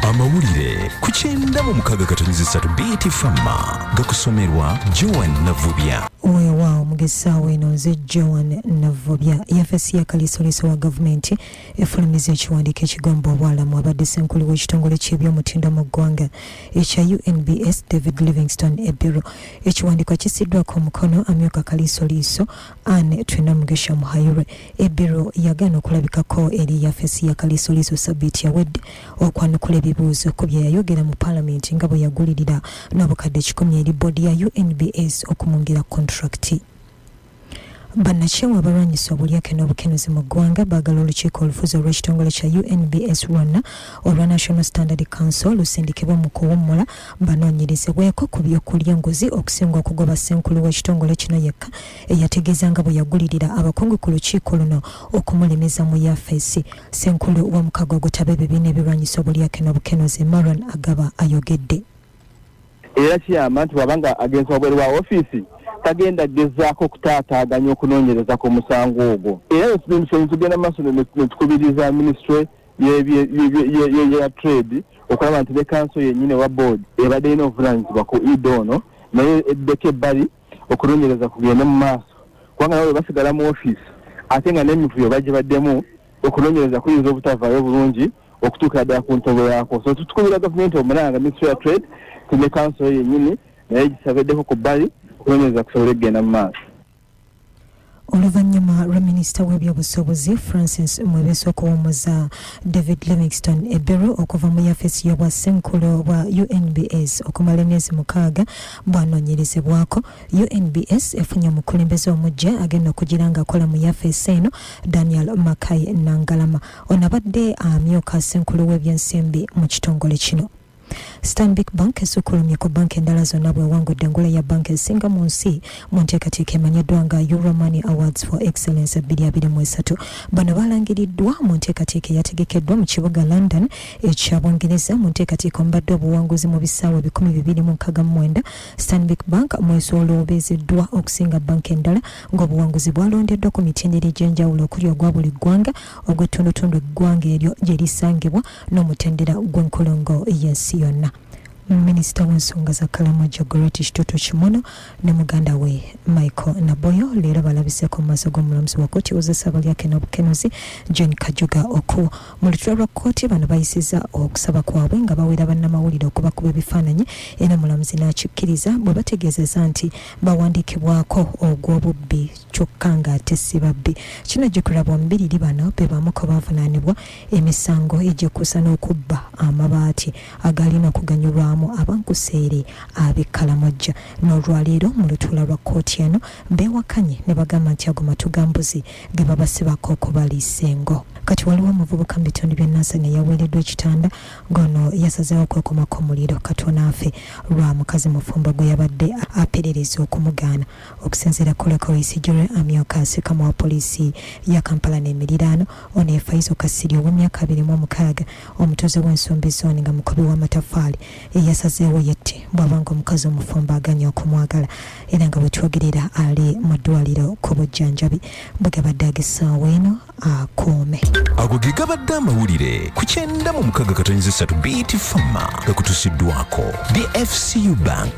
amawulire ku kyenda mu mukaga katonyezi satu bt fama gakusomerwa joan navubya weewaawo mugesaawo eno nze joan navubya yafesi ya kaliisoliiso wa gavumenti efulumiza ekiwandiiko ekigamba obwalamu abadde senkulu w'ekitongole ky'ebyomutindo mu ggwanga ekya unbs david livingston ebiro ekiwandiiko kisiddwako omukono amyuka kaliisoliiso Anne Twinomugisha Muhayirwe ebbiro yagaana okulabikako eri yafesi ya Kaliisoliiso ssabbiiti yawedde okwanukula ebibuuzo ku bye yayogera mu Palamenti nga bwe yagulirira n'obukadde kikumi eri bboodi ya UNBS okumwongera kontulakiti. Bannakyewa abalwanyisa obulyake n'obukenuzi mu ggwanga baagala olukiiko olufuzi olw'ekitongole kya UNBS lwonna olwa National Standard Council lusindikibwe mu kuwummula banoonyerezebweko ku by'okulya enguzi okusinga okugoba ssenkulu w'ekitongole kino yekka eyategeeza nga bwe yagulirira abakungu ku lukiiko luno okumulemeza mu yafeesi ssenkulu w'omukago ogutaba ebibiina ebirwanyisa obulyake n'obukenuzi maron agaba ayogedde era kiyamba nti bwaba nga agenze wabweru wa ofiisi tagenda gezaako okutaataaganya okunoonyereza ku musango ogwo era emisonyi tugenda mu maaso netukubiriza minisitule ya trade okulaba nti ne kanso yennyini owa board ebadde erina obuvunanyizibwa ku ida ono naye eddeko ebbali okunonyereza kugende mu maaso kubanga nabo bebasigala mu office ate nga n'emivuyo bagibaddemu okunonyereza kuyinza obutavaayo bulungi okutuukira ddala ku ntobo yaako so tutukubira gavumenti omulanga ministry ya trade ti ne kanso yennyini naye gisabeddeko ku bbali okunonyereza kusobole kugenda mu maaso oluvannyuma lwa minisita w'ebyobusuubuzi francis mwebeso okuwummuza david livingston ebberu okuva mu yafeesi y'obwa ssenkulu bwa unbs okumala emyezi mukaaga bwanoonyerezebwako unbs efunye omukulembeze omujja agenda okugira ng'akola mu yafeesi eno daniel makai nangalama onabadde amyuka ssenkulu w'ebyensimbi mu kitongole kino Stanbic Bank esukkulumye ku banka endala zonna bw'ewangudde engule ya banka ezisinga mu nsi mu nteekateeka emanyiddwa nga Euro Money Awards for Excellence ebbiri abiri mu esatu. Bano baalangiriddwa mu nteekateeka eyategekeddwa mu kibuga London ekya Bungereza mu nteekateeka omubadde obuwanguzi mu bisaawe ebikumi bibiri mu nkaaga mu mwenda. Stanbic Bank mwesolobezeddwa okusinga banka endala ng'obuwanguzi bwalondeddwa ku mitendera egy'enjawulo okuli ogwa buli ggwanga, ogw'ettundutundu eggwanga eryo gye lisangibwa, n'omutendera gw'enkulungo y'ensi yonna. Minisita w'ensonga za Kalamoja Goreti Kitutu Kimono ne muganda we Michael Naboyo leero balabiseko mu maaso g'omulamuzi wa kkooti wozesa abalyake n'obukenuzi John Kajuga Okuwo. Mu lutuula lwa kkooti bano bayisiza okusaba kwabwe nga bawera bannamawulire okubakuba ebifaananyi era mulamuzi n'akikkiriza bwe bategeezeza nti bawandiikibwako ogw'obubbi kyokka ng'ate si babbi. Kino Geoffrey Bwambiriri bano be bamu ku baavunaanibwa emisango egyekuusa n'okubba amabaati agaalina kuganyulwamu abankuseere ab'e Kalamojja n'olwaleero mu lutuula lwa kkooti eno beewakanye ne bagamba nti ago matu ga mbuzi ge babasibako okubaliisa engo. Kati waliwo omuvubuka mu bitundu by'e Nansana eyaweereddwa ekitanda ng'ono yasazeewo okwekumako omuliro katono afe lwa mukazi mufumbo gwe yabadde aperereza okumugaana Okusinziira ku Lekori Sijure amyuka ssekama wa poliisi ya Kampala n'emiriraano, ono ye Faizo Kasirye ow'emyaka abiri mu omukaaga omutuuze w'ensumbi zooni nga mukubi w'amataffaali eyasazeewo yette bw'aba ng'omukazi omufumbo aganye okumwagala era nga bwe twogerera ali mu ddwaliro ku bujjanjabi bwe gabadde ag'essaawa eno akuume ago ge gabadde amawulire ku kyenda mu mukaaga katonyeza essatu bt fama gakutusiddwako dfcu bank